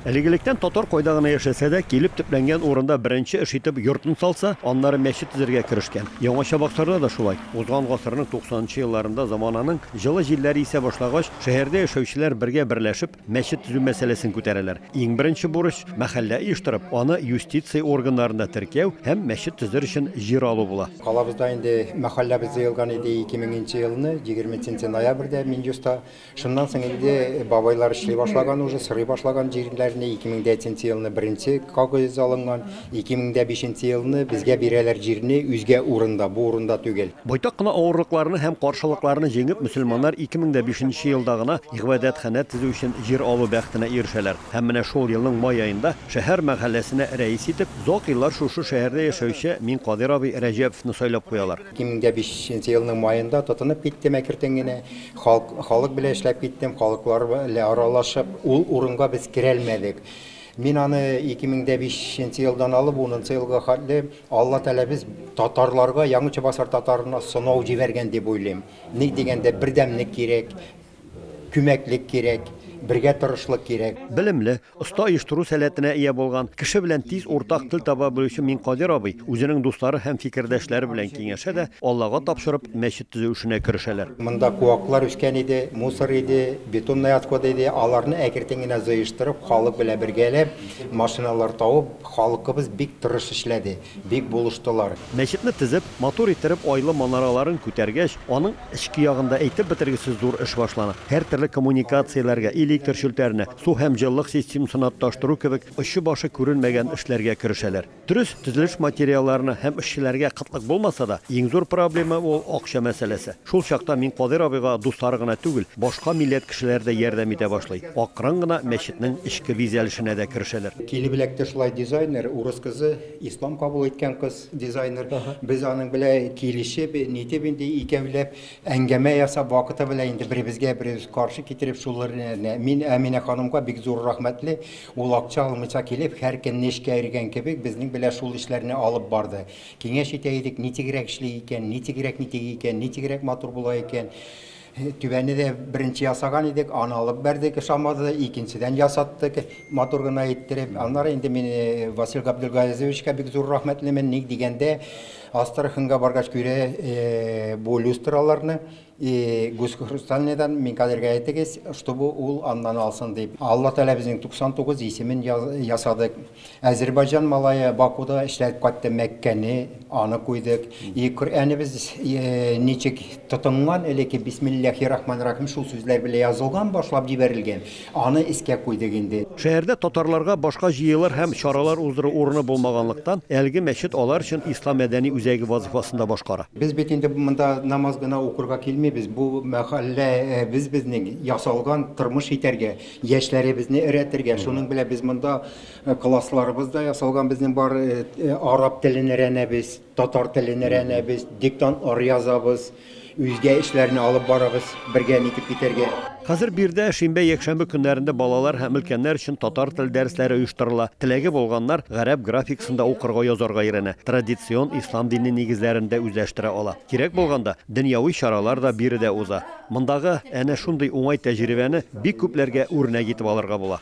Элек-электән татар кайда гына яшәсә дә, килеп төпләнгән урында беренче эш итеп йортын салса, аннары мәчет төзергә керешкән. Яңа Чабаксарда да шулай. Узган гасырның туксанынчы елларында замананың җылы җилләре исә башлагач, шәһәрдә яшәүчеләр бергә берләшеп, мәчет төзү мәсьәләсен күтәрәләр. Иң беренче бурыч, мәхәллә оештырып, аны юстиция органнарында теркәү һәм мәчет төзер өчен җир алу була. Калабызда инде мәхәлләбез җыелган иде ике меңенче елны, егерменченче ноябрьдә Минюста. Шуннан соң инде бабайлар эшли башлаган уже, сорый башлаган җирләрне. 2003 елны беренче кагыйз алынган, 2005 елны безгә бирәләр җирне үзгә урында, бу урында түгел. Байтак кына авырлыкларны һәм каршылыкларны җиңеп, мөселманнар 2005 елда гына гыйбадәтханә төзү өчен җир алу бәхетенә ирешәләр. Һәм менә шул елның май аенда шәһәр мәхәлләсенә рәис итеп, озак еллар шушы шәһәрдә яшәүче Минкадыйр абый Рәҗәповны сайлап куялар. Кимендә бишенче елның маенда тотынып киттем әкертен генә. Халк, халык белән эшләп киттем, халыклар белән аралашып, ул урынга без керәлмәдек. Мин аны 2005 нче елдан алып, унынчы елга хәтле Алла Тәгалә без татарларга, Яңа Чебоксар татарына сынау җибәргән дип уйлыйм. Ник дигәндә, бердәмлек кирәк. Күмәклек кирәк, бергә торышлык кирәк. Белемле, оста оештыру сәләтенә ия булган, кеше белән тиз уртак тел таба белүче Миңкадир абый үзенең дуслары һәм фикердәшләре белән киңәшә дә, Аллага тапшырып, мәчет төзү эшенә керешәләр. Монда куаклар үскән иде, мусор иде, бетонный отходы иде, аларны әкертен генә җыештырып, халык белән бергәләп, машиналар табып, халкыбыз бик тырыш эшләде. Бик булыштылар. Мәчетне тезеп, матур иттереп, айлы манараларын күтәргәч, аның эчке ягында әйтеп бетергесез зур эш башлана. Һәртөрле коммуникацияләргә, электр челтәренә, су һәм җылылык системсына тоташтыру кебек очы-башы күренмәгән эшләргә керешәләр. Дөрес, төзелеш материалларына һәм эшчеләргә кытлык булмаса да, иң зур проблема, ул акча мәсьәләсе. Шул чакта Минкадыйр абыйга дуслары гына түгел, башка милләт кешеләре дә ярдәм итә башлый. Акрын гына мәчетнең эчке бизәлешенә дә керешәләр. Килебеләк теш лай дизайнер, урыс кызы, ислам кабул иткән кыз дизайнер. Без аның белән килешеп, нитеп инде икәүләп әңгәмә ясап, вакыты белән инде беребезгә беребез каршы китереп шулыр нә. Мин Әминә ханымга бик зур рәхмәтле, ул акча алмыйча килеп, һәр көнне эшкә йөргән кебек безнең белән шул эшләрне алып барды. Киңәш итә идек, нитегрәк эшли икән, нитегрәк ни тиги икән, нитегрәк матур була икән. Түбәне дә беренче ясаган идек, аны алып бәрдек, ошамады, икенчедән ясаттык, матур гына иттереп. Аннары инде мин э, Васил Габдулгазизовичка бик зур рәхмәтлемен, ник дигәндә, Астраханьга баргач күрә э, бу люстраларны, И гуск хрустальныйдан мин кадергә әйтегез, чтобы ул аннан алсын дип. Алла Тәгалә безнең 99 исемен ясадык. Әзербайҗан малае Бакуда эшләп кайтты Мәккәне, аны куйдык. И Коръәнебез ничек тотынган элекке бисмилләхи рахманир рахим шул сүзләр белән язылган, башлап җибәрелгән. Аны искә куйдык инде. Шәһәрдә татарларга башка җыелыр һәм чаралар уздыру урыны булмаганлыктан, әлеге мәчет алар өчен ислам мәдәни үзәге вазыйфасын да башкара. Без бит инде монда намаз гына укырга килмибез, бу мәхәлләбез безнең, ясалган, тормыш итәргә, яшьләребезне өрәтергә. Шуның белән без монда классларыбыз да ясалган безнең бар, араб телен өрәнәбез, татар телен өрәнәбез, диктантлар язабыз. Үзгә эшләрне алып барыгыз, бергә нитеп китәргә. Хәзер бирдә шимбә-якшәмбе көннәрендә балалар һәм өлкәннәр өчен татар теле дәресләре оештырыла. Теләге булганнар гарәп графикасында укырга, язарга өйрәнә, традицион ислам дине нигезләрен дә үзләштерә ала. Кирәк булганда, дөньяви чаралар да биредә уза. Мондагы әнә шундый уңай тәҗрибәне бик күпләргә үрнәк итеп алырга була.